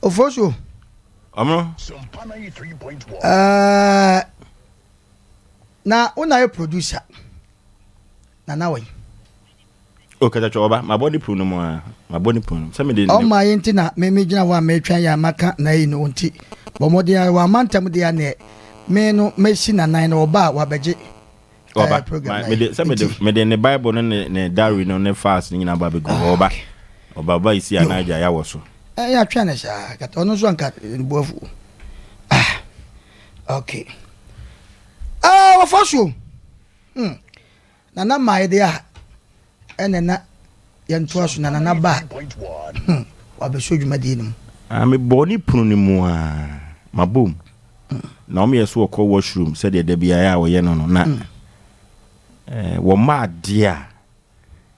Ofosu. Ɔmo. Ɛɛ na wo na yɛ producer na na wɔyi. O kɛtɛtwɛ ɔba, mabɔ ne punu no mu aa, mabɔ ne punu no mu sɛ mede ne. Ɔma yɛ nti na me megyina hɔ a meretwɛn yɛ a maka n'ayi no nti. Bɔ mmɔden ara, wamma ntam deɛ a neɛ me no mɛsi n'anan na ɔba a wabɛgye ɔba, program ma, mede, sɛ mede, mede ne Bible no ne, ne diary no ne files no nyinaa ba bɛgu hɔ, ɔba, ɔba, ɔba isi anan agya ya wɔ so. Ɛ yɛatwɛn no saa, kɛtɛ ɔno nso anka ne bo afu. Ah, okay. Ah, wɔfa so. Hmm. Nana my dea ɛnɛ na yɛ ntoa so na nana ba hmm wabɛso dwumadie no mu. Ah me bɔ ne pono no mu aa mabɔ mu na wɔn yɛ so wɔkɔ wash room sɛdeɛ da biara a wɔyɛ no no na eh, wɔma adeɛ a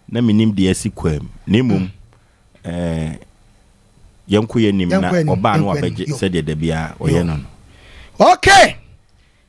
na menim deɛ asi kwaa mu na mmom eh, yɛnko yɛnim na Yɛnkɔ anim, ɔbaa no yɛnkɔ anim, wabɛgye yo. sɛdeɛ da biara ɔyɛ no no. Okay!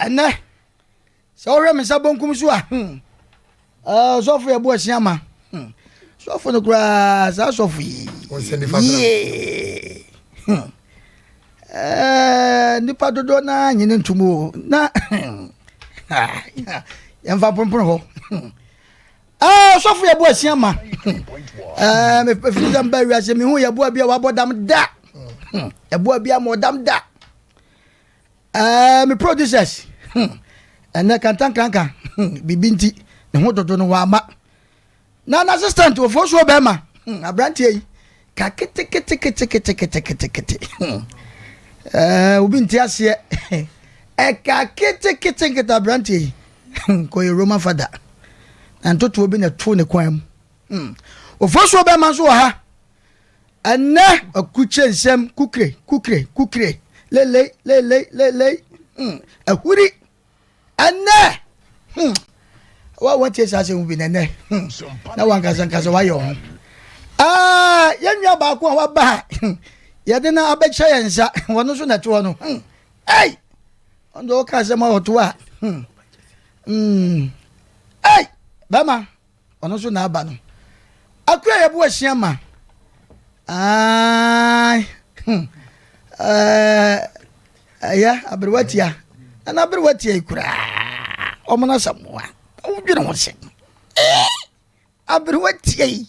Ɛnnɛ, sɛ wohwɛ me nsa bonkum so a, hmm, ɔsɔfo yɛ bo asia ma. Hmm, sɔfo no koraa, saa sɔfo yi. Yee. Hmm. Eh, nipa dodoɔ no ara nyene ntom o. Na, ah, yɛmfa mpompon hɔ. Hmm. Ah, ɔsɔfo yɛ bo asia ma. Hmm. Eh, mefiri sɛ mba wiase, mehu yɛ boa bi a wabɔ dam da. Ɛboa bi a ma ɔdam da. Ɛɛ me producers hmm. ɛnɛ kantankanka hmm. biribi nti ne ho dodo no wama na na assistant wɔfoɔ soɔ bɛrima hmm. aberanteɛ yi ka keteketeketeketeketekete hmm. ɛɛ obi nti aseɛ ɛka keteketekete aberanteɛ yi hmm. kɔyɛ roman fada na ntotoɔ bi na ɛto ne kwan mu hmm. wɔfoɔ soɔ bɛrima nso wɔ ha Ɛnnɛ akukyire nsɛm kukire kukire kukire lelei lelei lelei hmm ahuri ɛnnɛ hmm wa wɔntie saa asɛm bi na ɛnnɛ hmm na wankasa nkasa wayɛ wɔn ho aa yɛn nua baako a waba ha hmm yɛde no abɛkyɛ yɛn nsa wɔn nso na ɛtoɔ no hmm ɛy wɔn de wɔka asɛm a wɔtoɔ a hmm hmm ɛy bɛma Ɔno nso na aba no. Akua yɛbo ahyia ma. Aai. Hmm. Ɛyɛ aberewa tia. Na n'aberewa tia yi koraa. Ɔmo no asɛm wa. Wodwene ho sɛ. Aberewa tia yi.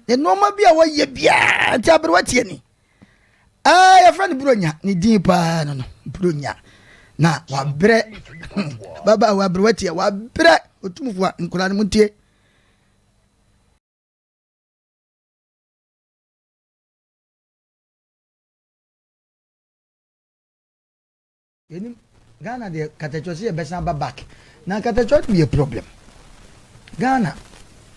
Nneɛma bi a wɔyɛ biara nti aberewa tia ni. ɛɛ yɛfrɛ no buronya ne din paa no no buronya na wabrɛ baba wabrɛ watia wabrɛ ɔtumfoɔ a nkora no mu ntie Yɛnim Ghana deɛ katakyɔ sɛ yɛbɛsan aba back na katakyɔ no yɛ problem Ghana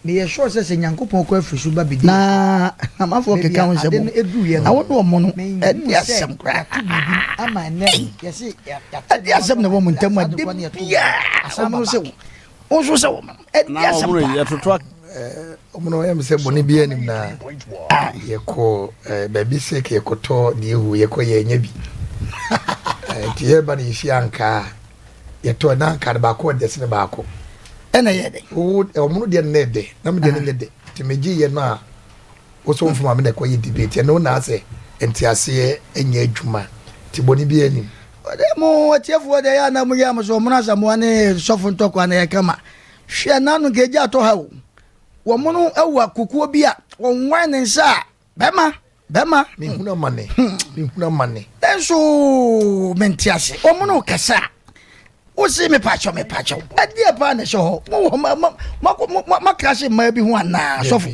meyɛ sure sɛ sɛ Nyankopɔn kɔ afiri so ba bɛdi na namafoɔ keka ho nsɛm na wo ne ɔmo no ɛde asɛm koraa ɛde asɛm na ɛwɔ mo ntam a da biaa ɔmo no sɛ wo nso sɛ wɔma ɛdi asɛm pa yɛtoto ɔmo no ɛm sɛ bɔne bi anim na yɛkɔ baabi sɛ ka yɛkɔtɔ deɛ hu yɛkɔ yɛanya bi nti yɛba no yɛhyia ankaa yɛtɔ na ankaa no baako ɔdɛ sene baako ɛna yɛ dɛ ɔmo no deɛ no na ɛdɛ na medeɛ no nyɛ dɛ nti megye yɛ no a wo so mfoma me na ɛkɔyɛ debate ɛno na sɛ nteaseɛ ɛnyɛ adwuma nti bɔne bi anim Ode mo atiefo ode ya na muya mo so ɔmono asamoa ne nsɔfo ntɔkwa na yɛka ma. Hwɛ na ano nka egya atɔ ha o. Wɔmono awa kokuo bi a wɔnwae ne nsa a bɛma, bɛma. Mehunu amane, mehunu amane. Nanso mente ase. Wɔmono rekasa a wose mepaakyɛw, mepaakyɛw. Ɛdeɛ paa na ɛhyɛ hɔ? Mowɔ hɔ ma, ma, ma, ma, ma, ma krahye mmaa bi ho anaa, sɔfo?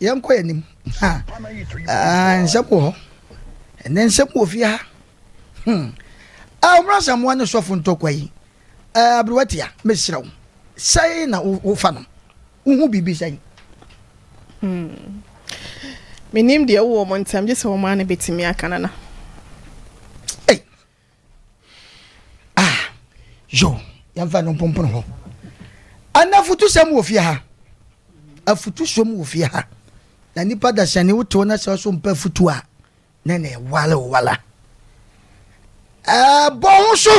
Yɛnkɔ yɛn anim. Ha, ah, nsɛm wɔ hɔ. Ɛnɛ nsɛm wɔ fie ha. Hmm. Ah, wɔn asamoa ne sɔfo ntɔkwa yi. Ah, aberewa tia, mesrɛ wo. Sɛn na wofa no? Wohu biribi sɛn? Hmm. Menim deɛ ɛwɔ wɔn ntam, gye sɛ wɔn ara na betumi aka nana. Ei, a yo yɛmfa no mpompono hɔ ana afutusɛm wɔ fie ha afutusom wɔ fie ha na nipa dasani wote wo na sɛ ɔso mpa afutu a na na ɛwale wo wala ɛbɔ ho so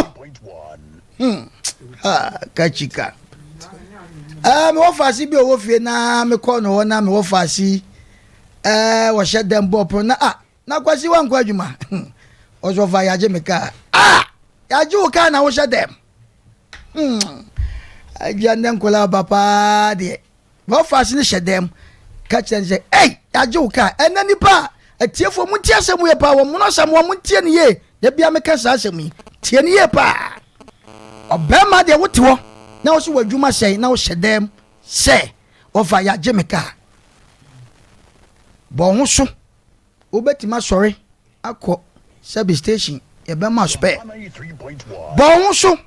hmm. ha kachika ɛɛ mewɔ faase bi a ɔwɔ fie na mekɔ no hɔ na mewɔ faase ɛɛ wɔhyɛ dɛm bɔɔ pono na a ah, Na Kwasi wankɔ adwuma Ɔsɔfo a yɛagye me kaa Ah! Yɛagye wo kaa na wohyɛ dɛm Hmm Agya nnɛ nkɔla aba paa deɛ Bɔfas ne hyɛ dɛm Ka kyerɛ ne sɛ ei yɛagye wo kaa Ɛnɛ nipa a atiefoɔ mo ntie asɛm yie paa Wɔn mono asɛm wɔn ntie ne yie Da bia meka saa asɛm yi Tie ne yie paa Ɔbɛrima deɛ wote hɔ na wo so wɔ adwuma sɛn na wohyɛ dɛm sɛ Ɔfa yɛagye me kaa Bɔ ho so Wobɛtumi asɔre akɔ service station yɛbɛma spare. Bɔ wo so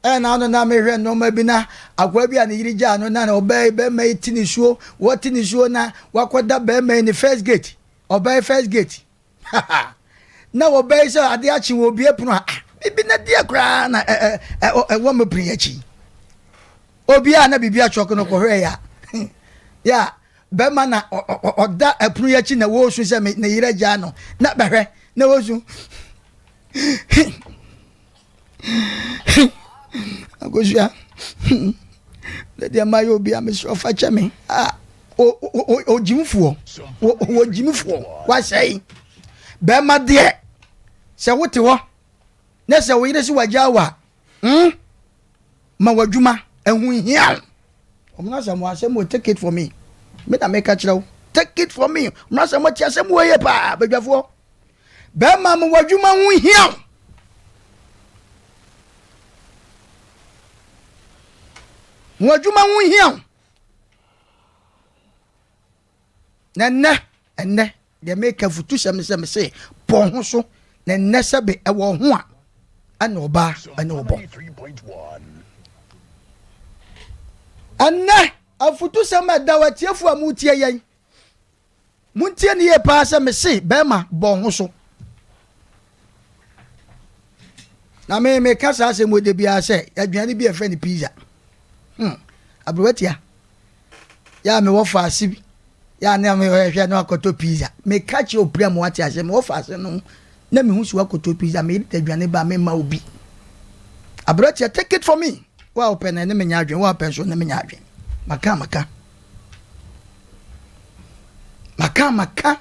ɛna ano na mehwɛ nneɛma bi na akoa bi a ne yere gyaa no na ɔbaa yi bɛrima yi ti ne suo wɔte ne suo na wakɔda bɛrima yi ne first gate ɔbaa yi first gate na ɔbaa yi sɛ adeɛ akye wɔ obie pono a ah, bibi na deɛ koraa na ɛwɔ me pene akyi obi a na biribi atwɔk no kɔhwɛ ya ya Bɛrima na ɔda ɛpono yi akyi na wɔresu sɛ ne yere agyaa no na bɛhwɛ na wɔresu. Akosua, deɛ mma yɛ obi a mesrɛ ɔfa kyɛ me. Ah, ogyimfoɔ, ogyimfoɔ, wasɛe. Bɛrima deɛ, sɛ wote hɔ na sɛ wo yere se wagyaa wo a, Hmm? Ma w'adwuma, ɛho nhia wo. Ɔmena sɛ mo asɛm wɔ take it for me. Me na meka kyerɛ wo. Take it for me. Ɔmena sɛ mo te asɛm wɔ yie paa, badwafoɔ. Bɛrima ma w'adwuma ho nhia wo. Mo adwuma ho nhia wo. Na nnɛ, ɛnnɛ, deɛ meka afutusɛm ne sɛ mese bɔ ho so na nnɛ sɛ be ɛwɔ ho a ɛne ɔbaa ɛne ɔbɔ ɛnnɛ afutusɛm a ɛda watiefo a motie yɛn montie ne yie paa sɛ mese bɛrima bɔ ho so na me meka saa asɛm wɔ da biara sɛ aduane bi a ɛfrɛ no pizza hmm aberewa tia yɛ a mewɔ faase bi yɛ a ne mehwɛ no akɔtɔ pizza meka kyerɛ opira mu ate asɛm mewɔ faase no na mehu so akɔtɔ pizza meyere da aduane ba mema obi aberewa tia take it for me wo a wopɛ no ne menya adwene wo a wopɛ so ne menya adwene maka maka maka maka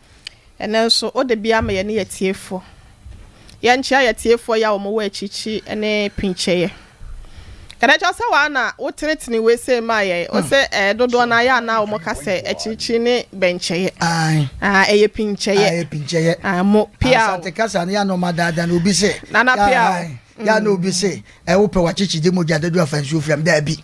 Ɛnnɛ nso, wo de bi ama yɛne y'atiefoɔ. Yɛnkyea y'atiefoɔ yi a wɔn wɔ akyirikyi ne pinkyɛeɛ. Kɛdɛ kyɛw sɛ waa na wo tenetene wei sei maa yɛn. Wo se ɛɛ dodoɔ no ayɛ a na wɔn ka sɛ akyirikyi ne bɛnkyɛeɛ. Ae. Ae ɛyɛ pinkyɛeɛ. Ae ɛyɛ pinkyɛeɛ. Ae mo pia o. Asante kasa no yɛ na wɔn adaadaa na obi se. Nana pia o. Ae yɛ na obi se ɛɛ wopɛ w'akyikyide mogya dadu afa nsuo fira mu daabi.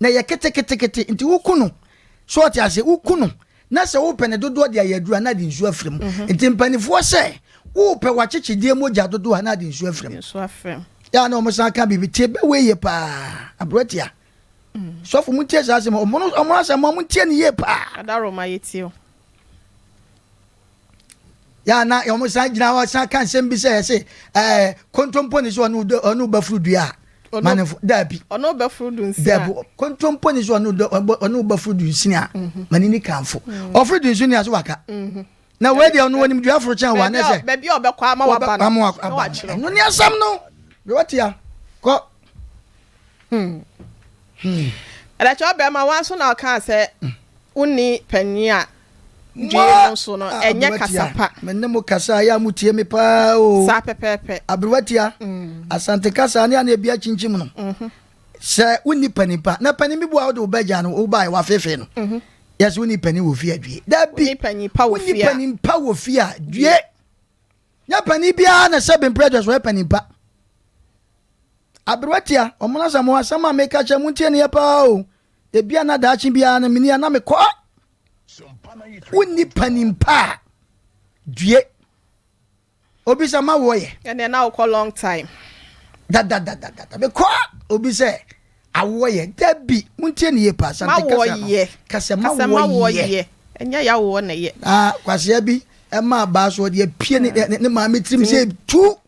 na ɛyɛ ketekete nti woku no so ɔte ase woku no na sɛ wopɛ ne dodoɔ de ayɛ aduru a na ade nsuo afiri mu mhm. nti mpanimfoɔ sɛ wopɛ wakyekyedeɛ mogya dodoɔ a na ade nsuo afiri mu yɛa na wɔn san ka biribi tie bɛwɔ yie paa aberɛ tia mm. sɔfo mu tie saa asɛm wɔn asɛm wɔn tie ne yie paa adaroma yɛ tie yɛ na wɔn san gyina hɔ san ka nsɛm bi sɛ yɛsɛ ɛɛ kontompo ne so ɔno ɔno bɛfuru dua a manefo daabi ɔno bɛfuru du nsia daabi kontompo ne so ɔno ɔno bɛfuru du nsia mhm. mani ni kanfo mhm. ɔfuru du nsia so waka mhm. na wei deɛ ɔno wɔnim dua aforo kyɛn wɔn anɛ sɛ baabi a ɔbɛkɔ ama waba no ama waba no ɛno ni asɛm no bɛ wɔtia kɔ. Hmm. Hmm. ɛdɛkyɛ ɔbɛrima wa nso na ɔka sɛ hmm. wonni panyin a Due no so no, ɛnyɛ kasa pa. Me ne mo kasa a, ɛyɛ a motie me paa o. Saa pɛpɛɛpɛ. Aberewatia, Asante kasa a ne a na ebi akyinkyim no, sɛ wonni panin pa, na panin bi bo a wode wo bɛgya no, wobae wafefe no, yɛsɛ wonni panin wɔ fie a due. Dabi, wonni panin pa wɔ fie a due. Nyɛ panin biara na sɛ bemprɛ dwa so ɔyɛ panin pa. Aberewatia, ɔmo na sɛ mo asɛm a meka kyerɛ mo ntie ne yɛ paa o. Ebi a na daakye biara no meni a na mekɔ. wonni panin pa a due obi sɛ ma wɔyɛ ɛnɛ na wokɔ long time dadadadada mekɔ a obi sɛ awoɔ yɛ da bi montie ne yɛ pa asante kasa no kasɛ ma wɔyɛ ɛnyɛ yɛ awoɔ na yɛ na kwaseɛ bi ɛma abaa so ɔde apue ne maame tirim sɛ tu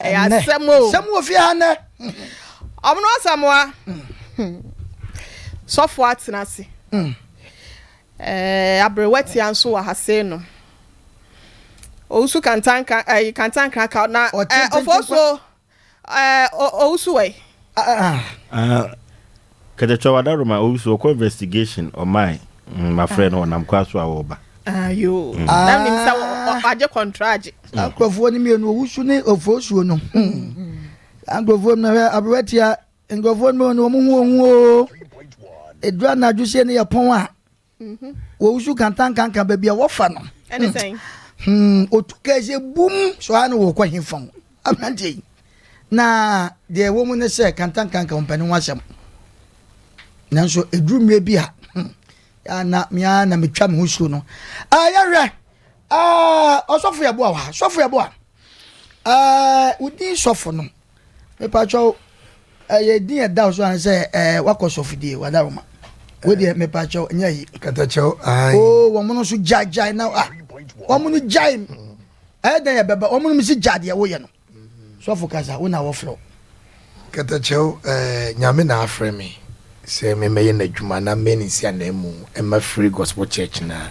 ɛyɛ asɛm o asɛm wɔ fie ha nnɛ ɔmo no asamoa sɔfo atena ase mm. eh, aberewa tia nso wɔ ha sei no owusu kantanka eh, kantankra ka na eh, ɔfɔ so eh, owusu wɛ ah, ah. ah. Kɛkyɛkyɛw adaroma obi so ɔkɔ investigation ɔmae mm, mafrɛ no ɔnam kwa so a ɔreba. Ayoo. Ah, mm. Na nim sɛ wagye kɔntragye. Na nkurɔfoɔ no mmienu owusu ne ofosuo no. Saa nkurɔfoɔ no hwɛ aberewa tia nkurɔfoɔ no mmienu wɔn ho wɔn ho o. Edura anadwo sie no yɛ pɔn a. Wɔwusu kantankanka baabi a wɔfa no. Ɛne sɛn? Hmm, otu kaa sɛ bum so a na wɔkɔ he fa ho. Aberanteɛ yi. Na deɛ ɛwɔ mu ne sɛ kantankanka wɔmpɛ ne ho asɛm. Nanso ɛduru mmerɛ bi a hmm, na mea na metwa me ho suo no. Ah, yɛhwɛ. Ah, ɔsɔfo yɛboa wɔ ha. Sɔfo yɛboa. Ah, wodin sɔfo no. Mepakyɛw, ɛyɛ din a ɛda so ara sɛ ɛɛ wakɔ sɔfodie, wadaroma. Wei deɛ mepakyɛw, nyɛ ayi. Katakyɛw, ae. Oo, wɔn no nso gyae gyae na ah, wɔn no gyae. Ɛyɛ dɛn ɛbɛba, wɔn no mi si gyae deɛ woyɛ no. Sɔfo kasa, wo na wɔfrɛ wo. Katakyɛw, ɛɛ Nyame na afrɛ me sɛ memmɛyɛ n'adwuma na mɛn nsi ananmu mma Free Gospel Church no a.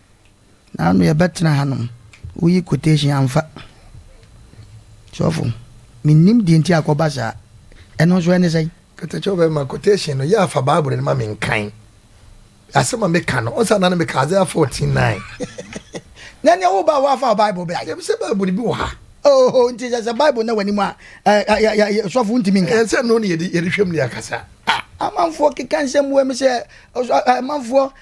Naano yɛbɛtena hanom. Woyi quotation amfa. Sɔfo, mennim deɛ nti a kɔba saa. Ɛno nso ɛne sɛn? Katakyɛ ɔbɛma quotation no, yɛ afa Bible no ma me nkan. Asɛm a meka no, ɔnsa na no meka Isaiah 14 9. Na nea woba a woafa Bible bɛ a? Yɛbi sɛ Bible bi wɔ ha. Oh, nti sɛ sɛ Bible na w'anim a, sɔfo ntumi nka. Ɛnsɛ no ne yɛde hwɛm ne akasa. Ah, amanfoɔ keka nsɛm wɔ mu sɛ, amanfoɔ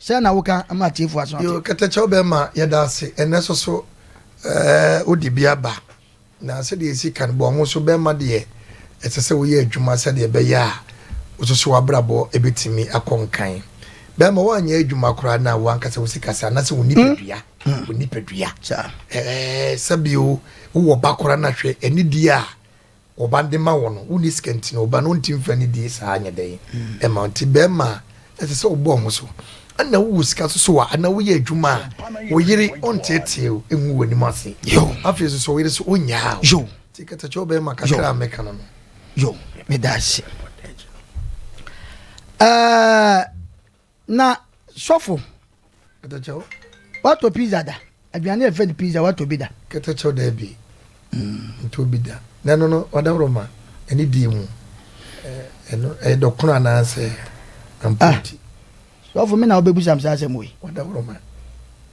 Sɛn na woka ma atiefo aso ate? Yo, kɛtɛkyɛ wo bɛma yɛda ase. Ɛnnɛ so so eh, wode bi aba. Na sɛdeɛ yɛsi ka no, bɔ ho so bɛma deɛ ɛsɛ sɛ woyɛ adwuma sɛdeɛ ɛbɛyɛ a wo so so w'abrabɔ bɛtumi akɔ nkan. Bɛma woanyɛ adwuma koraa na w'ankasa wo sikasɛ anaasɛ wo nipadua, wo nipadua. Eh, sɛ bio wowɔ ba koraa na hwɛ anidie a Wo ba de ma wo no, wonni sika nti no, wo ba no nte mfra ne die saa nyɛ dɛn ɛma wo. Nti bɛrima a, ɛsɛ sɛ wobɔ ho so. Ɛna wowɔ sika nso so a, anaa woyɛ adwuma a, wo yere ɔnteetee wo, ɛngu w'anim ase. Afei nso, sɔ wo yere so, ɔnnyaa wo. Nti kasa kyerɛ wo bɛrima kakra a mɛka no no. Yo, meda ase. Uh, Na sɔfo, kɛtɛkyɛw, woatɔ pizza da? Aduane a yɛfrɛ no pizza, woatɔ bi da? Kɛtɛkyɛw, Dabi, mentɔɔ bi da. Na ɛno no, ɔdawuroma, ɛne deɛ mu? Ɛno, ɛyɛ dɔkono anaasɛ ampa nti? Ah, sɔfo, me na wobɛbusa me saa asɛm wei? Ɔdawuroma.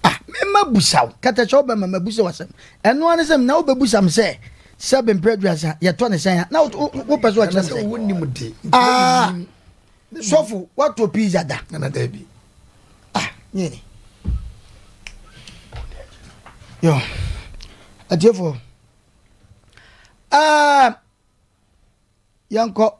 Ah, mema busa wo. Kɛtɛkyɛw, bɛma mabusa wo asɛm. Ɛno ara ne sɛ, na wobɛbusa me sɛ, sɛ bemprɛ aduasa, yɛtɔ no sɛn a? Na wopɛ sɛ ɔkyerɛ me sɛ. Ɛno sɛ wonnim de, mprɛ mennim. Ah. Sɔfo wato pizza da. Nana dabi. Ah, nyene. Yo. Atiefo. Ah. Yanko.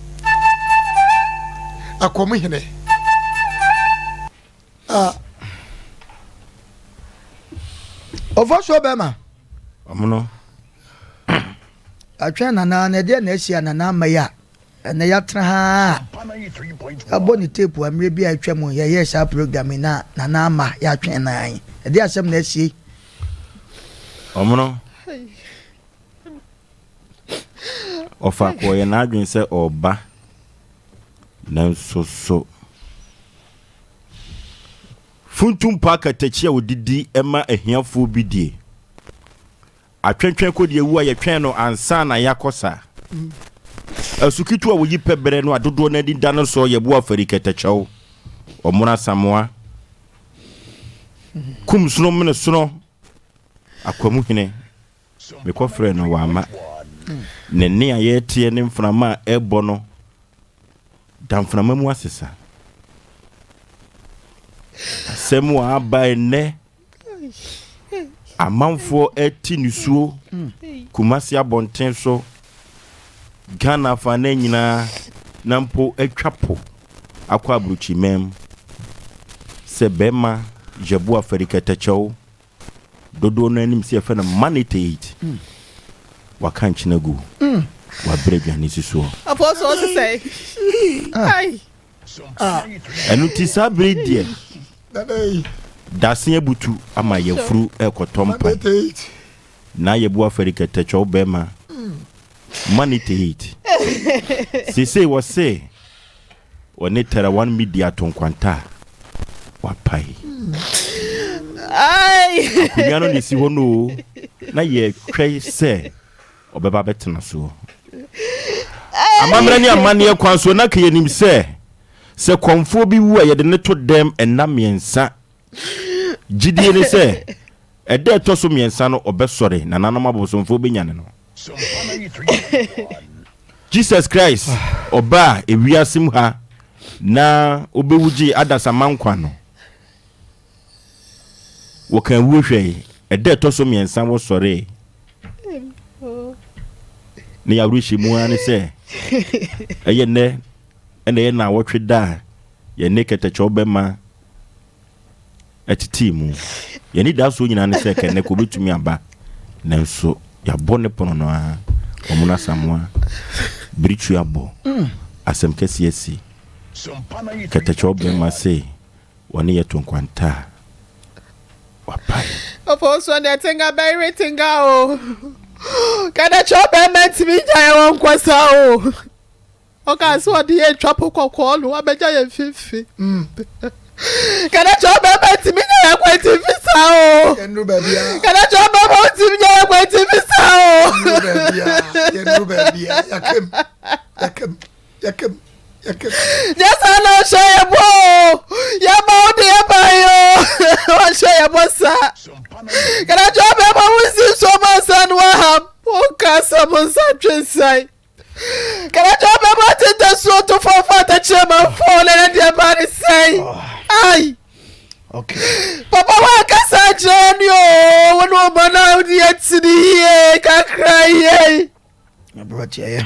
Akoom hene a ɔfa so bɛma ɔmo no atwɛn nana na ɛdeɛ na asi a nana ama yi a ɛnɛ yɛatena ha abɔ ne tape a mmerɛ bi a atwa mu yɛyɛ saa program na nana ama yɛatwɛn na ɛdeɛ asɛm na asie ɔmo no Ɔfaako ɔyɛ n'adwene sɛ ɔreba, nanso so funtum pa akatakyi a ɔde di ma ahiafoɔ bi die? Atwentwɛn kɔdi awu a yɛtwɛn no ansa na yɛakɔ saa. Asu ketewa a wɔyi pɛ berɛ no a dodoɔ no ani da no soɔ yɛ boɔ afari kɛtɛkyɛw, ɔmono asamoa, kumsono menesono, akwamuhene. Mekɔfrɛɛ no wamma. Ne nne a yɛreteɛ ne mframa a ɛrebɔ no da mframa mu asesa. Asɛm a aba nnɛ, amanfoɔ ati nisuo Kumasi abɔnten so, Ghana afanan nyinaa na mpo atwa po akɔ aburokyiman mu sɛ bɛrima Jabu Afari Kɛtɛkyɛw dodoɔ no ara nim sɛ yɛfrɛ no maniteit. Waka nkyene agu. Wabrɛ aduane si soɔ. Apɔsɔ ɔte sɛe. Ah. Ai. Ah. Ɛno ti saa bere deɛ. Dase abutu ama yɛfuru ɛkɔtɔ mpa. Na yɛbu afɛre kɛtɛkyɛw bɛrima. Maniteit. Sesei wɔ se Wɔne Terra One Media to nkwanta a wɔapae. Akonnwa no na esi hɔ no oo, na yɛretwɛn sɛ ɔbɛba abɛtena so. Amammerɛ ne amanneɛ kwan so na anka yenim sɛ, sɛ kɔmfoɔ bi wu a, yɛde no to dɛm nna mmiɛnsa Gyidie ne sɛ, ɛda a ɛtɔ so mmiɛnsa no ɔbɛsɔre, na nanom abosomfoɔ bɛnyane no. Jesus Christ ɔbaa ewiase mu ha na ɔbɛwu gyee adasamma nkwa no. Wɔkaa wuo hwɛe, ɛda a ɛtɔ so mmiɛnsa wɔsɔree. Ne y'awerɛhyɛmu ara ne sɛ, ɛyɛ nnɛ na ɛyɛ nnawɔtwe da a yɛne kɛtɛkyɛw bɛma ɛtetee mu. Yɛn anidasoɔ nyinaa ne sɛ kɛnnɛ ka ɔbɛtumi aba, nanso yɛabɔ ne pono no ara. Wɔn Asamoah, Birikyui abɔ asɛm kɛseɛ asi kɛtɛkyɛw bɛmma se wɔne yɛ to nkwanta a wapae. Ɔpɔn so ne tenga bɛyere tenga o, kɛtɛkyɛw bɛmma ntumi ngyae wɔn nkɔ saa o. Ɔkaa sɛ ɔde yɛn atwa po kɔkɔɔ no abɛgya yɛn mfimfini. Ka na kyerɛ ɔbarima ntumi nya yɛn kwan ti mfi saa o. Yɛnuru baabi a. Ka na kyerɛ ɔbarima ntumi nya yɛn kwan ti mfi saa o. Yɛnuru baabi a. Yɛnuru baabi a. Yɛkam. Yɛkam. Yɛkam. Yɛkam. Nyɛ saa na ɔhyɛ yɛn bɔ o. Yɛn ma wo de yɛn ba yi o. Ɔhyɛ yɛn bɔ saa. Ka na kyerɛ ɔbarima wo nsi nsuo ma nsa no aham. Wonka asɛm nsa ntwe nsan. Kɛlɛtɔ bɛbɔ atete suo to fam fa atɛkyerɛ ma mfɔɔ na ɛde ɛba ne sɛn. Ai. Okay. Papa wa kasa kyerɛ ni o wo no ba na di atini ye kakra ye. Abrati aye.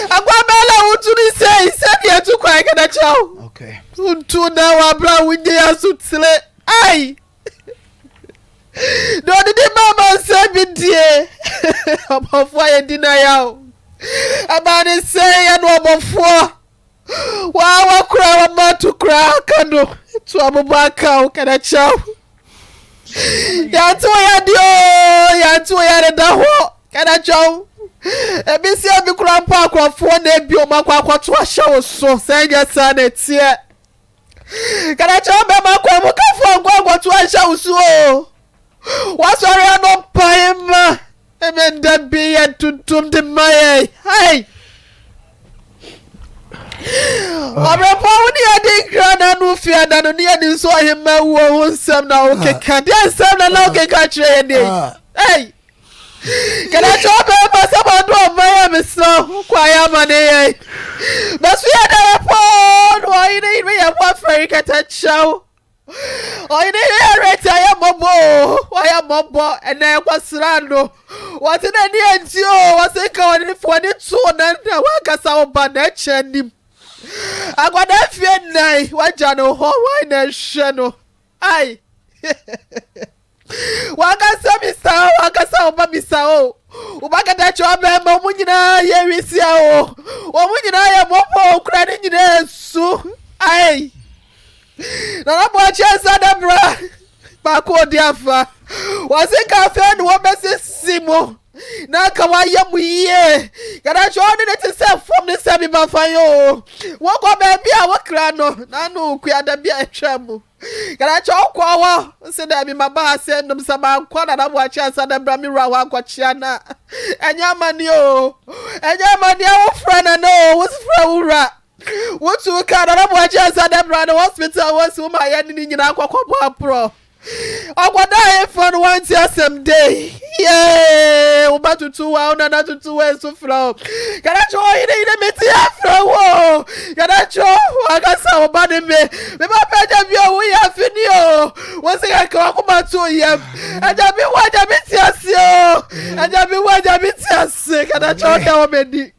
Agwa bela wo tu ni se se bi etu kwa kada chao. Okay. Untu na wa bra wo nye asu tsile. Ai. na ɔde ne ba amansan bi die ɔbɔfoɔ yɛ di na yaw ɛbaa ne sɛ yɛ no ɔbɔfoɔ waa wakora wama to koraa ka no to abobɔ aka wo kana kyɛw yɛnte wo yɛ deɛ o yɛnte wo yɛ deda hɔ kana kyɛw ebi si ebi kora mpo akorɔfoɔ na ebi ɔmo akɔ akɔto ahyɛ wo so sɛ nyɛ saa na eteɛ. Kɛnɛ kyerɛ bɛma akwanmukafoɔ nkɔnkɔto anhyɛ wo so o. Wasɔre anɔpa yi ma ɛmɛ da bi yɛ tuntum de ma yɛ. Hai! Ɔbrɛpɔ wo ne adi nkra na ano fi ada no ne ani nso ɔhema wuo ho nsɛm na wokeka. Deɛ nsɛm na na wokeka kyerɛ yɛ dɛ. Hai! Kada kyerɛ ɔdɔ yɛ basa ma do ɔma yɛ mesrɛ ho kwa yɛ ama ne yɛ bɛso yɛ da yɛ pɔɔ no ɔye ne yere yɛ mo afɛre kɛtɛ kyerɛ wo ɔye ne yere yɛ reti ayɛ mmɔbɔ o wayɛ mmɔbɔ ɛnɛ kwasra no wɔte na ani agye o wɔse nka wɔne ne fi wɔne to wo nan na wankasa wo ba na ɛkyɛ anim akwadaa fie nnan wagya no hɔ wan na ɛhwɛ no Ai! Wankasa bisa o, wankasa wo ba bisa o. Wo ba kɛtɛkye ɔbɛrima, wɔn nyinaa yɛ wisia o. Wɔn nyinaa yɛ mɔpɔ o, kura ne nyinaa nsu. Ai! Nana Boakye nsa da bra. Baako odi afa. Wɔse nka afei na wɔbɛsisi mu. na anka wayɛ mo yie kɛdɛkyɛ ɔne ne te sɛ fam ne sɛ bi ma fa yɛ o wokɔ baabi a wokra no na ano okua da bi a ɛtwa mu kɛdɛkyɛ wokɔ hɔ sɛ dɛ bi ma ba ha sɛ nom sɛ mankɔ na na moakyɛ ansa dɛ bra me wura hɔ ankɔkyea na ɛnyɛ amane o ɛnyɛ amane a wofrɛ na na o wosfrɛ wo wura wotu ka na na moakyɛ ansa dɛ bra no hospital wɔsi wo ma yɛ ne ne nyinaa kɔkɔbɔ aporɔ Akwadaa ayeforɔ no wante asɛm dei yee wo ba tutu wa wo nana tutu wa nso frɛ wo Kanakyɛ ɔhene yine mete afrɛ wo Kanakyɛ wakasa wo ba ne me me ba pɛ agya bi o woyɛ afini o wo se kɛkɛ wakoma to yam agya bi wo agya bi te ase o agya bi wo agya bi te ase Kanakyɛ ɔkɛ wɔ m'ani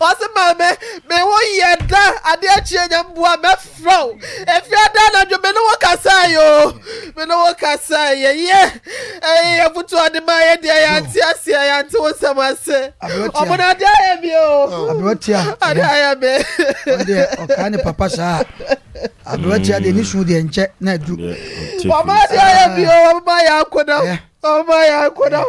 Ɔse maame me ho yɛ da ade akyie nyame boa mɛfrɛ wo ɛfiri ada anadwo me ne wo kasae yo me ne wo kasae yɛyɛ ɛyɛ afutu ɔde ma yɛ deɛ yɛante aseɛ yɛante wo nsɛm ase ɔmo no ade ayɛ me o abewatia ade ayɛ me ɔdeɛ ɔkaa ne papa saa abewatia deɛ ne su deɛ nkyɛ na adu ɔmo ade ayɛ me o ɔmo ma yɛ akoda Ɔma yɛ akɔda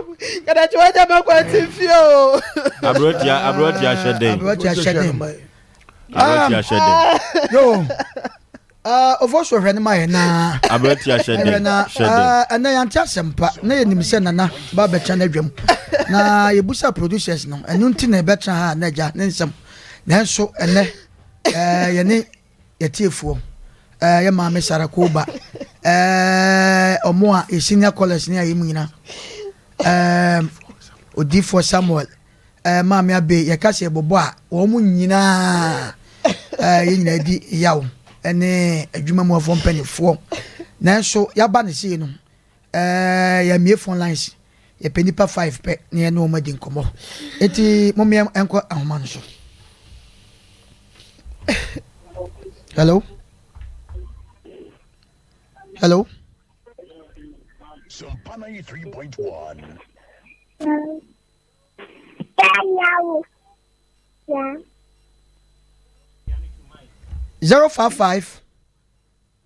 kada kyɛ wagya ma kwan te fie o. Aberantia aberantia hyɛ dɛn. Aberantia hyɛ dɛn. Aberantia hyɛ dɛn. Yo. Ah, ofo so hwɛ ne ma yɛ na. Aberantia hyɛ dɛn. Ɛhwɛ na ah, ɛnɛ yɛnte asɛm pa na yɛnim sɛ nana ba bɛtena n'adwam na yɛbusa producers no ɛno nti na ɛbɛtena ha na agya ne nsɛm nanso ɛnɛ ɛɛ yɛne Yɛtiefoɔ ɛɛ yɛ maame Sarah Kooba ɛɛ ɔmo a yɛ senior callers ne a yɛ mu nyina ɛɛm Odiifoɔ Samuel ɛɛ maame Abbey yɛka sɛ yɛbɔbɔ a wɔn mo nyinaa ɛɛ yɛ nyinaa di yaw ɛne adwuma mu afoɔ mpanifoɔ nanso yaba ne sei no Ɛɛ, yɛmmue phone lines. Yɛpɛ nnipa five pɛ na yɛne wɔn adi nkɔmmɔ. Enti mommea ɛnkɔ ahoma no so. Hello? Hello? Sumpa 93.1. Zero five five.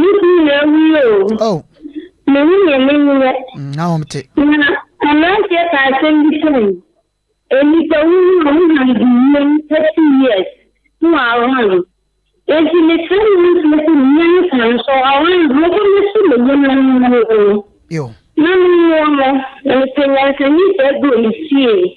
Me kunu na awu yi oo. Oh. Me ho yɛ me nyɛ. Mm, na wɔn te. Na aberanteɛ ka asɛm bi kyerɛ me. Nnipa wu no a wɔn hide wiem pɛ two years na wɔawan. Enti mesrɛ mmeranteɛ sɛ menya ne kwan so awan a mɛba mɛso me nneɛma no mu no. Yo. Na me noa no, na mepɛ nyansani saa bi wɔ me fie.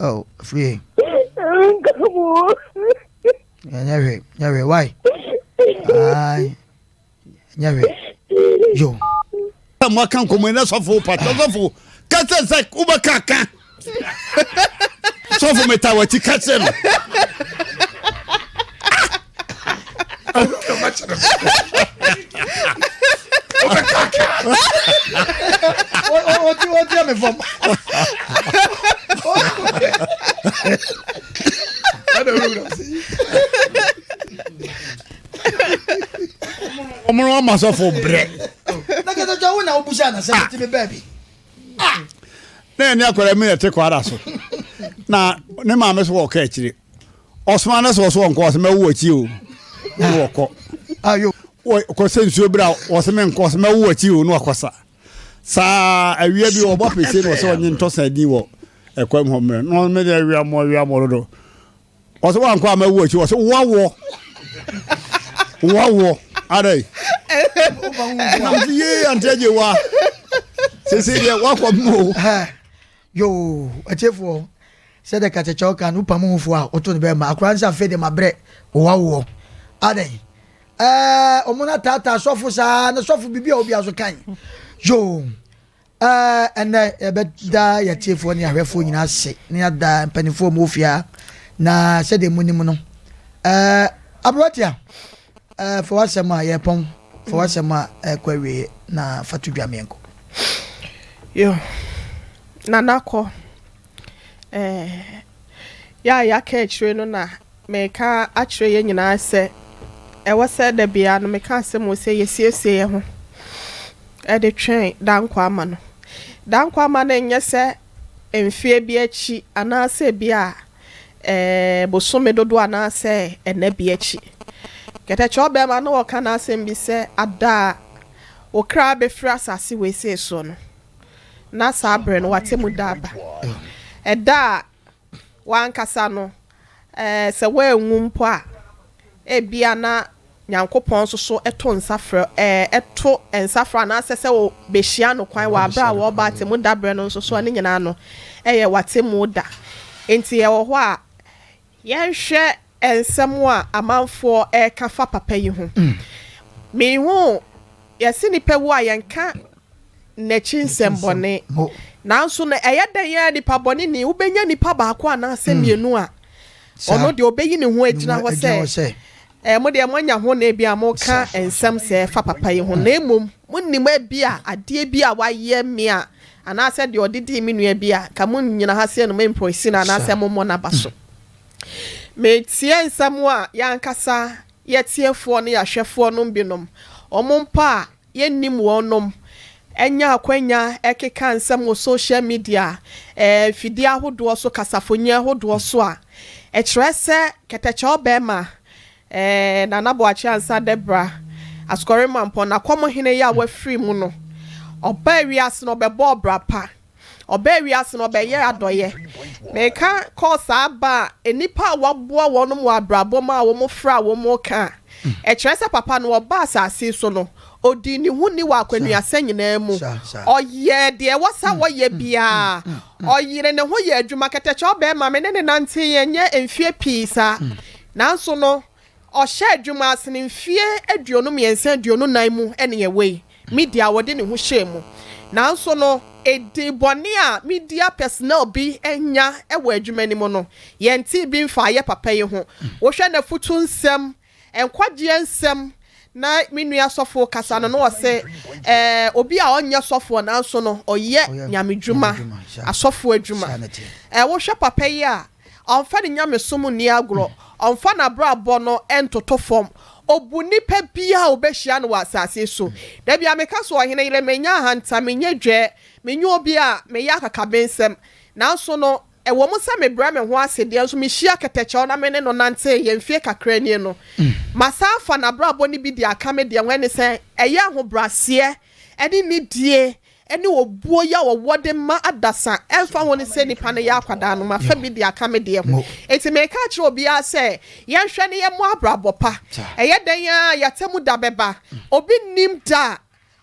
Oh, free. Nyahwe, nyahwe, why? Aye, nyahwe, yo. Mo aka nkomo ina sofo pa sofo kasa sak uba kaka. sɔfo meta w'akyi ka kyerɛ no wɔtia me fam ɔmono ama sɔfo brɛ na kɛtɛtwa wo na wobusa anasɛ metimi baabi ah! na ɛne akwadaa mi na ɛte kwara so na ne maame so wɔkɔ akyire ɔsoma no sɛ ɔso wɔnkɔ ɔsɛ mɛwo akyi o na wɔkɔ kɔ sɛ nsuo berɛ a ɔsɛ menkɔ ɔsɛ mɛwo akyi o na wakɔ sa saa awia bi ɔbɔ apɛkyɛ na ɔsɛ ɔnye ntɔsa din wɔ ɛkwan mu hɔ mmerɛ na ɔmɛde awiamɔ awiamɔ dodo Ɔsɛ wankɔ ama awu akyi ɔsɛ wɔwɔ wɔwɔ adɛ. Nam so yie ante agye wa sese deɛ wakɔ mu o. Yoo atiefoɔ sɛ dɛ kakyɛkyɛw kan no pam ho fo a ɔto no bɛɛ ma akora nsa afei de ma brɛ wɔwɔ adɛ. Ɛɛ ɔmo na taataa sɔfo saa na sɔfo bibi a obi aso kan yoo. Aa, Nnɛ yɛbɛda yɛn atiefoɔ ne ahwɛfoɔ nyinaa ase na yɛada mpanimfoɔ a wɔwɔ fie ha na sɛdeɛ monim no ɛɛ aberanteɛ ɛɛ fa w'asɛm a yɛpɔn fa w'asɛm a ɛkɔ awieɛ na fa to dwa ma yɛnkɔ. Yo, Nana kɔ ɛɛ yɛ a yɛaka akyire no na Mereka akyerɛ yɛn nyinaa sɛ, ɛwɔ sɛ da biara no meka asɛm wɔ sɛ yɛsiesie yɛn ho de twɛn Dankwaama no. Dankwaama no nyɛ sɛ mfeɛ bi akyi anaasɛ ebi a bosome dodoɔ anaasɛ ɛna bi akyi. Kɛtɛkyɛ ɔbarima no ɔka n'asɛm bi sɛ, ada a wo kra bɛfiri asase wesee soɔ no, na saa berɛ no w'atemmuda aba. Ɛda a w'ankasa no Sɛ woanwu mpo a, ebia na Nyankopɔn nso so to nsa frɛ, to nsa frɛ anaasɛ sɛ wobehyia No kwan wɔ bere a wɔrebɔ atemmu da bere no nso so a, ne nyinaa no, ɛyɛ w'atemmu da. Enti yɛwɔ hɔ a, yɛnhwɛ nsɛm a amanfoɔ reka fa papa yi ho. Minhuu Yɛse nnipa wu a, yɛnka n'akyi nsɛmbɔne. Nanso na ɛyɛ dɛn ara nnipa bɔne ni, wobɛnya nnipa baako anaasɛ mmienu a ɔno deɛ ɔbɛyi ne ho agyina hɔ sɛ, Ɛɛ, mo deɛ moanya ho na ebia moreka nsɛm sɛɛ fa papa yi ho, na mmom monnim ebia adeɛ bi a wayɛ me a, anaasɛ deɛ ɔde dii me nua bi a, anka monnyina ha sɛ no, mompɔsi no anaasɛ mommɔ no aba so. Meteɛ nsɛm a yɛankasa Yɛ tiefoɔ ne yɛahwɛfoɔ nom binom, wɔn mpo a yɛnnim wɔn nom, anya akwanya ɛkeka nsɛm wɔ social media, ɛɛ mfidie ahodoɔ so, kasafonyin ahodoɔ so a, ɛkyerɛ sɛ kɛtɛkyɛw bɛɛma, ɛɛ Nana Boakye Ansah Dabrah, Asukɔre Mampɔn, Nakɔmhene yi a wafiri mu no, ɔbaa wiase no ɔbɛbɔɔ bra pa. Ɔbaa wiase no, ɔbɛyɛɛ adɔeɛ. Meka kɔɔ saa ba a, nnipa a wɔaboa wɔn wɔ abrabɔ mu a wɔfrɛ a wɔreka a, ɛkyerɛ sɛ papa no, ɔbaa asase so no, ɔdii ne ho ni wɔ akwannuasa nyinaa mu. Ɔyɛɛ deɛ ɛwɔ sɛ ɔyɛ biara. Ɔyeree ne ho yɛɛ adwuma. Kɛtɛkyɛ ɔbarima, me ne no nanteeɛ nyɛ mfeɛ pii saa. Nanso no, Ɔhyɛ adwuma ase no mfeɛ aduonu mmiɛnsa aduonu nnan mu ne ɛwei, Media a ɔde ne ho hyɛɛ mu. Nanso no, edin bɔne a Media Personnel bi anya wɔ adwuma no mu no, yɛntee bi mfaa yɛ papa yi ho. Wohwɛ n'afutu nsɛm, nkwagyeɛ nsɛm, na me nua sɔfo kasa no, na ɔse eh, obi a ɔnyɛ sɔfoɔ nanso no ɔyɛ Nyame dwuma, asɔfoɔ adwuma. Eh, wohwɛ papa yi a, Ɔmfa ne nyamesom nni agorɔ. Ɔmfa n'abrabɔ no ntoto fam. Ɔbu nnipa biara a ɔbɛhyia no wɔ asase so. Da biara meka sɛ, Ɔhene yere, menyɛ ahantan, menyɛ dwɛɛ, menye obi a meyɛ akakabensɛm. Nanso no, ɛwɔ mu sɛ mebrɛ me ho ase deɛ nso, mehyia kɛtɛkyɛw na me ne no nanteeɛ mfeɛ kakra nie no, masan afa n'abrabɔ no bi de aka me deɛ ho, ɛne sɛ, ɛyɛ ahobrɛaseɛ ne nidie ne obuo yi a wɔwɔ de ma adasa, ɛmfa ho ne sɛ nnipa no yɛ akwadaa no, mafa bi de aka me deɛ ho. Enti mereka akyerɛ obiara sɛ, yɛnhwɛ na yɛmmɔ abrabɔ pa. Ɛyɛ dɛn ara a, y'atemmu da bɛba. Obi nnim da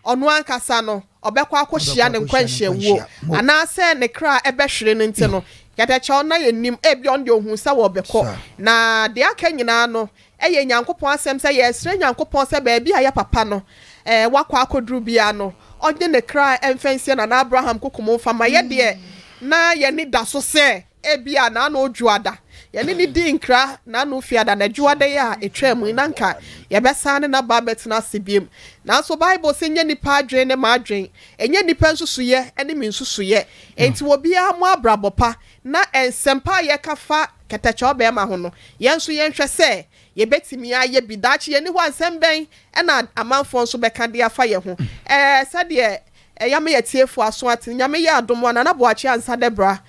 a ɔno ankasa no, ɔbɛkɔ akɔhyia ne nkwanhyiawuo, anaasɛ ne kra bɛhwere no nti no, yɛdɛkyɛw na yɛnnim. Ebia ɔno deɛ ɔhuu sɛ wɔrebɛkɔ, na deɛ aka nyinaa no, Ɛyɛ Nyankopɔn asɛm sɛ yɛresrɛ Nyankopɔn sɛ baabi a yɛ papa no wakɔ akɔduru biara no, ɔnye ne kra mfa nsie Nana Abraham Kokom mfa mma yɛ deɛ na yɛn ani da so sɛ ebia na ano redwo ada. Yɛne no dii nkra na ano refi ada, na ɛdwo ada yi a ɛtwaa mu yi na anka yɛbɛsan ne n'aba abɛtena ase biom. Nanso Bible se nyɛ nnipa adwene ne m'adwene, ɛnyɛ nnipa nsusuiɛ ne me nsusuiɛ. Enti obiara mmɔ abrabɔ pa na nsɛmpa a yɛka fa kɛtɛkyɛw barima ho no, yɛn nso yɛnhwɛ sɛ yebetumi ayɛ bi. Daakye yɛn ni hɔ a, nsɛm bɛn na amanfoɔ nso bɛka de afa yɛn ho? Ɛɛ, sɛdeɛ yɛama yɛatiefo aso ate no, Nyame yɛ adom a, Nana Boakye Ansah Debra,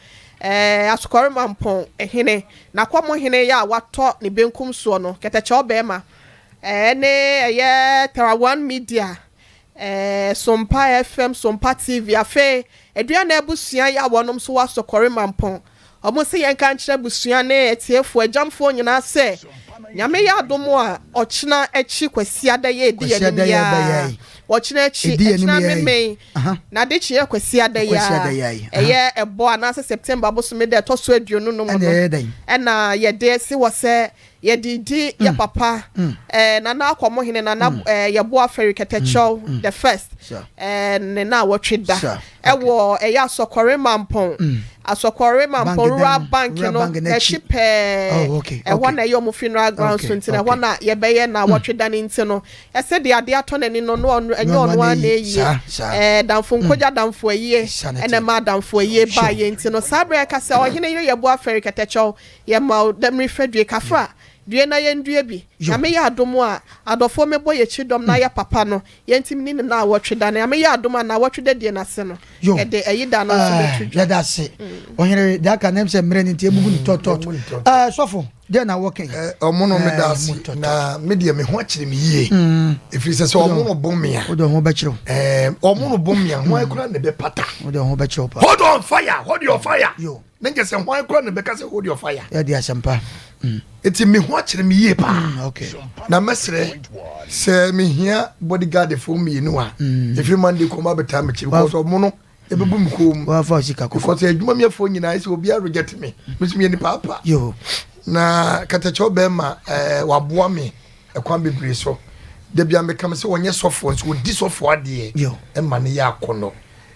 ɛɛ, Asokɔre Mampɔn hene, Nakwamo hene yɛ a watɔ ne benkum soɔ no, kɛtɛkyɛw barima, ɛɛ, ne ɛyɛ Tera One Media, ɛɛ, Sompa FM, Sompa TV, afei Aduana Abusua yɛ a wɔnom nso wɔ Asokɔre Mampɔn, Wɔse yɛnka nkyerɛ abusua ne atiefo agyamfoɔ nyinaa sɛ Nyame yɛ adom a ɔkyena akyi Kwasiada yɛ edi yɛanim yaa Ɔkyena akyi ɛkyena memen na adekye yɛ Kwasiada yaa Ɛyɛ ɛbɔ anaasɛ September bosome da ɛtɔ so aduonu no mu no ɛna yɛde se wɔ sɛ Yɛ dii di yɛ papa eh Nana Akɔmohene Nana eh Yɛboa Feri Kɛtɛkyɛw the first eh Ne naawɔtwe da ɛwɔ ɛyɛ Asɔkɔre Mampɔn Asɔkɔre Mampɔn Rural Bank no nakyi pɛɛ Ɛhɔ na ɛyɛ ɔmo funeral grounds so nti no ɛhɔ na yɛbɛyɛ naawɔtwe da no nti no Ɛsɛdeɛ adeɛ atɔ nani no no ɔno ɛnyɛ ɔno ara na eyie eh Damfo nkogya Adamfo ayie ɛna ɛma Adamfo ayie baayɛ nti no saa berɛ ɛka sɛ Ɔhene Yere Yɛboa Feri Kɛtɛkyɛw Yɛma wo dɛ merehwɛ due. Ka fra due na yɛndue bi. Nyame yɛ adom a, adɔfoɔ mebɔ yɛkyi dɔm no ayɛ papa no, yɛntim ne ne naawɔtwe da no. Nyame yɛ adom a, naawɔtwe da die no ase no, yɛde ayi da no nso bɛto dwa. Yɛda ase. Ɔhene deɛ aka no, ɛm sɛ mmerɛ no nti abubu no tɔtɔt. Ɛɛ sɔfo, deɛ na wɔka yi? Ɛɛ ɔmo no meda ase, na me deɛ me ho akyere me yie. Ɛfiri sɛ sɛ ɔmo no bom me a. Wode ɔho bɛkyerɛ wo. Ɛɛ ɔmo no bom me a, hwan kura na ɛbɛpata? Wode ɔho bɛkyerɛ wo paa. Hold on fire, hold your fire. Na nkyɛ sɛ hwan koraa na ɛbɛka sɛ hold your fire. Yɛde asɛmpa. Eti me ho akyere me yie paa. Mm, okay. Na mɛsrɛ sɛ mehia bodyguardfoɔ mmienu a mm. ɛfiri Monday kɔm abɛtaa mekyiri because ɔmo no ɛbɛbu me kɔn mu. Wafa osika kɔkɔ. Because adwuma mi afoɔ nyinaa sɛ obiara reject me. Mesu mi nipa apa. Yo. Na katakyɛw bɛrima ɛɛ eh, waboa me ɛkwan bebree so. Dabi a meka me sɛ wɔnyɛ sɔfoɔ nso wɔdi sɔfoɔ adeɛ ɛma ne yɛ akɔnɔ.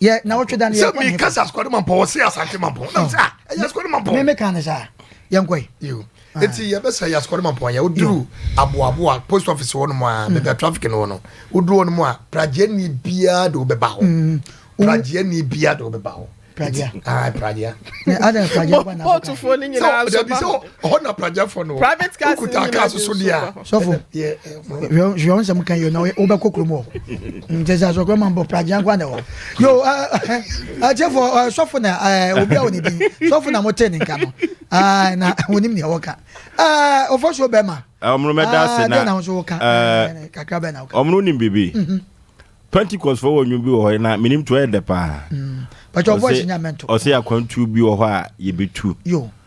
yɛ na ɔtwe da no yɛ kɔ ne kasa asukɔde ma mpɔ wɔsi asante ma mpɔ nam sɛ a ɛyɛ asukɔde ma mpɔ ne meka ne saa yɛn kɔ yi eti yɛ bɛ sɛ yɛ asukɔde ma mpɔ yɛ o duru aboaboa post office wɔ nom a bɛbi a traffic no wɔ no o duru wɔ nom a pragye ni bia de o bɛ ba hɔ mm. pragye ni bia de o bɛ ba hɔ pragye ah pragye pragye bɔ na bɔ kan sɛ ɔdabi sɛ ɔhɔ na pragyafoɔ no wokuta kaa so so deɛ a sɔfo hwɛ nsɛm ka yɛ na wobɛkɔ kurom hɔ nkyɛ sɛ asɔkorɔ ma mbɔ pragya nkoa na ɛwɔ yo akyɛfo sɔfo na obi a wɔ ne din sɔfo na motee ne nka no na wɔnim neɛ wɔka ɔfa suo bɛma ɔmono mɛda ase na na nso woka kakra bɛ na woka ɔmono nim biribi mhm. pentecost fo wɔ nnwom bi wɔ hɔ na menim to ɛyɛ dɛ paa mm. ɔsɛ akwantuo bi wɔ hɔ a yɛbɛtu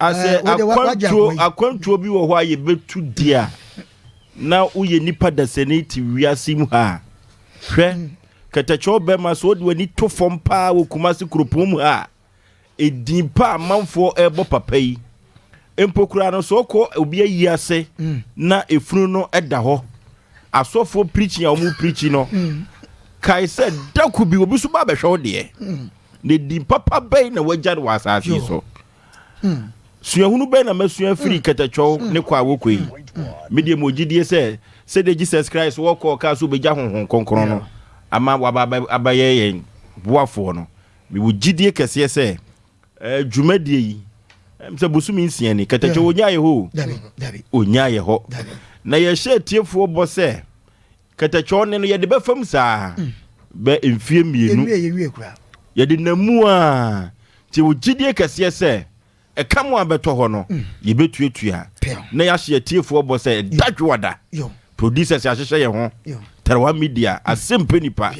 Asɛ akwantuo akwantuo bi wɔ hɔ a yɛbɛtu di a na woyɛ nipa dasani te wiase mu ha a hwɛ kɛtɛkyɛw bɛma so wode w'ani to fam paa wɔ Kumasi kuropɔn mu ha a ɛdin pa amanfoɔ ɛrebɔ papa yi mpo koraa no so ɔkɔ obi ayi ase mm. na efunu no ɛda hɔ asɔfoɔ pirikyi a wɔn pirikyi no mm. kae sɛ dako bi obi so ba abɛhwɛ wo deɛ mm. Na din papa bɛn na wɔagya no wɔ asase yi so? Suahunu bɛn na masua afiri mm. kɛtɛkyɛw mm. ne kɔ a wɔkɔ yi? Mm. Medeɛ mewɔ gyidie sɛ sɛdeɛ Jesus Christ wɔkɔɔ kaa so bɛgya honhom kronkron no ama waba abɛyɛ yɛn boafoɔ no mewɔ gyidie kɛseɛ sɛ eh, dwumadie yi sɛ bosome nsia ni kɛtɛkyɛw ɔnyaayɛ hɔ ɔnyaayɛ hɔ na yɛhyɛ atiefoɔ bɔ sɛ Kɛtɛkyɔɔ ne no yɛde bɛ fam saa bɛ mfie mmienu. Yɛde nam mu a nti wo gyidie kɛseɛ sɛ ɛka mo a bɛtɔ hɔ no yɛbɛtuatua na yɛahyɛ atiefoɔ bɔ sɛ ɛda dwoada producers ahyehyɛ yɛ ho tarawa media asɛm pɛ nipa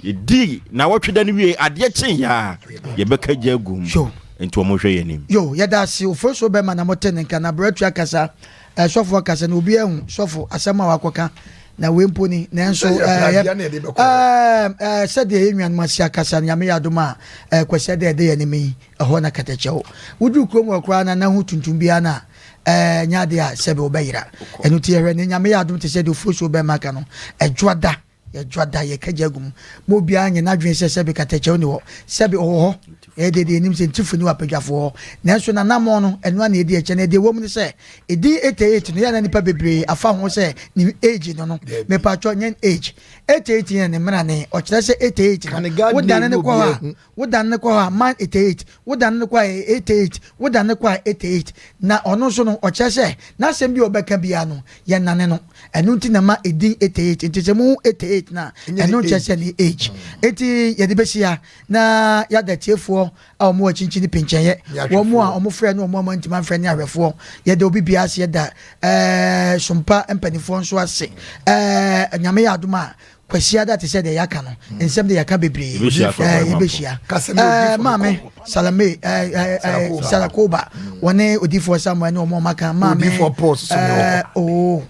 Yɛdii nnawɔtwe da no wiei, adeɛ kyeeɛ ara, yɛbɛka gya agu mu, Yo. enti wɔhwɛ yɛn anim. Yo, yɛda ase o, Fosuo bɛrima na mote ne nka, na Bratua kasa, eh, sɔfo akasa, na obiara ahu, sɔfo, asɛm a wakɔka, na wei mpo ni, nanso, eh, yɛ, eh, eh, sɛdeɛ yɛn nuanom ase akasa no, Nyame yɛ adom a, eh, Kwasi Adda a ɛda yɛn anim yi, ɛhɔ na kɛtɛkyɛ wɔ. Woduru kurom hɔ koraa no a, na ho tuntum biara no a, eh, ɛnyɛ adeɛ a sɛbe wobɛyera. Ɛno nti yɛhwɛ, na Nyame yɛ adom te sɛ deɛ Fosuo bɛrima ka no, Adwoada Yɛdwa da, yɛka gya gu mu. Ma obiara nyɛ n'adwene sɛ sɛbe katakyɛ nni hɔ, sɛbe ɔwɔ hɔ. Ɛyɛ deɛ deɛ yɛnim sɛ ntifo nni w'apadwafoɔ hɔ. Nanso n'anammɔn no, ɛno ara na ɛdi ɛkyɛ. Na deɛ ɛwɔ mu ne sɛ, edin 88 no, yɛ a na nnipa bebree afa ho sɛ ne age no no. Mepaatwɔ, nyɛ ne age. 88 yɛ ne mmerane. Ɔkyerɛ sɛ 88 no, wodane no kɔ hɔ a, Wo dane no kɔ hɔ a, man ete it, wo dane no kɔ a, ete it, wo dane no kɔ a, ete it. Na ɔno nso no, ɔkyerɛ sɛ, n'asɛm biara a ɔbɛka biara no, yɛnnane no. Ɛno nti na ɛma edin ete it. Enti sɛ muhu ete it no a, ɛno nkyerɛ sɛ ɛne age. Enti yɛde bɛhyia na yɛada atiefoɔ a wɔwɔ akyinkyini no penkyɛeɛ, wɔn a wɔfrɛɛ ne wɔn a wɔantumi amfrɛ ne ahwɛfoɔ. Yɛda obi biara ase, yɛda ɛɛ Sompa mpanimfoɔ nso ase. Ɛɛ Nyame yɛ adom a, Kwasiada te sɛ deɛ yɛaka no nsɛm deɛ yɛaka bebree ɛɛ yɛbɛhyia ɛɛ maame Salame ɛɛ ɛɛ Sarakoba wɔne odifoɔ Samuel ne wɔn a wɔaka maame ɛɛ oo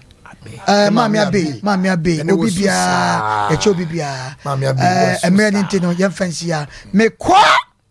ɛɛ maame abe maame abe obi biara yɛkyɛ obi biara ɛɛ mmerɛ ne nti no yɛmfa nsia mekɔ.